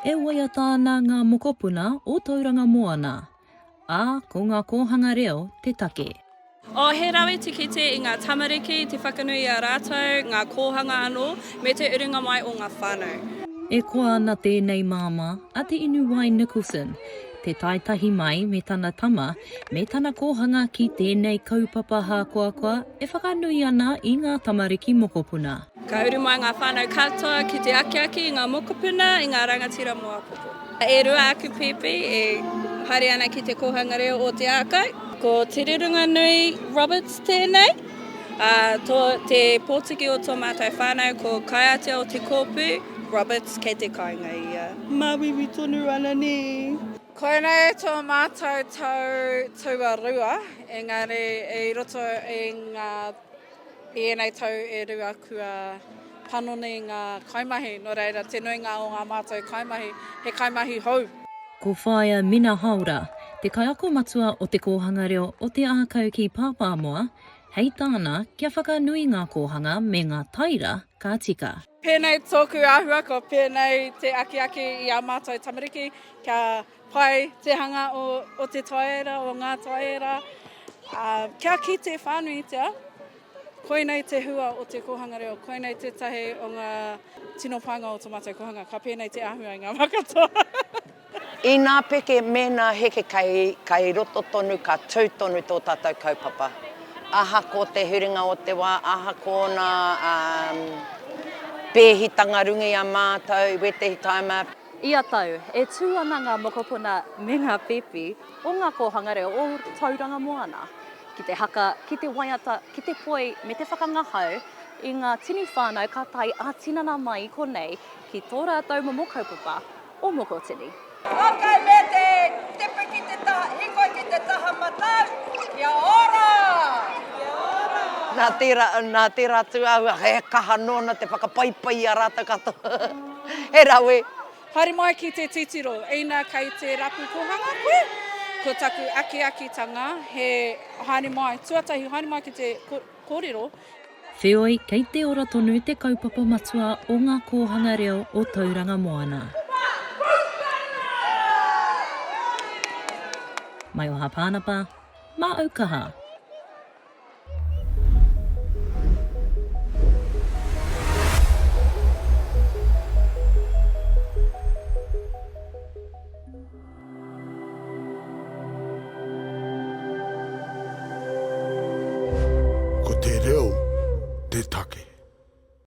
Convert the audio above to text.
E waiata ana ngā mokopuna o Tauranga Moana. Ā, ko ngā kōhanga reo te take. Oh, he rawe te kite i ngā tamariki, te whakanui i a rātou, ngā kōhanga anō, me te urunga mai o ngā whānau. E koa ana tēnei māmā a Te Inuwai Nicholson, te tae tahi mai me tana tama me tana kōhanga ki tēnei kaupapa hākoakoa e whakanui ana i ngā tamariki mokopuna. Ka uru mai ngā whānau katoa ki te akiaki i ngā mokopuna, i ngā rangatira mō apoko. E rua aku pēpi e haere ana ki te Kōhanga Reo o Te Ākau. Ko Te Rerunganui Roberts tēnei, ā, tō te pōtiki o tō mātou whānau ko Kaiatea o Te Kōpu Roberts, kei te kāinga ia. Māuiui tonu ana nē. Koinei tō mātou tau tuarua, engari i roto i ngā. I ēnei tau e rua kua panoni ngā kaimahi, nō reira te nuinga o ngā mātou kaimahi he kaimahi hou. Ko Whaea Mina Haora te kaiako matua o Te Kōhanga Reo o Te Ākau ki Pāpāmoa, hei tāna, kia whakanui ngā kōhanga me ngā taira ka tika. Pēnei tōku āhua, ko pēnei te akiaki i ā mātou tamariki kia pai te hanga o, o te taiera, o ngā taiera, ā, kia kite whānuitia, koinei te hua o te kōhanga reo, koinei tētahi o ngā tino pānga o tō mātou kōhanga, ka pēnei te āhua i ngā wā katoa. Inā peke mēnā heke kai kai roto tonu ka tū tonu tō tātou kaupapa. Ahako te huringa o te wā, ahako ōna um, pēhitanga runga i a mātou, i wētehi taima, Ia tau, e tū ana ngā mokopuna me ngā pēpi o ngā kōhanga reo o Tauranga Moana ki te haka, ki te waiata, ki te poi me te whakangahau i ngā tini whānau ka tae ā-tinana mai i konei ki tō rātou momo kaupapa o moko tini. Hākai me te tipu ki te taha hiko, ki te taha matau, kia ora! Kia ora! Nā tērā, nā tērā atu āhua, he kaha nōna te whakapaipai i a rātou katoa. He rawe! Haere mai ki te titiro, ina kei te rapu kōhanga koe, ko taku akiakitanga he haere mai, tuatahi haere mai ki te. Kōrero. Wheoi, kei te ora tonu te kaupapa matua o Ngā Kōhanga Reo o Tauranga Moana. Mai o Hāpānapa, mā Aukaha. Ko te reo te take.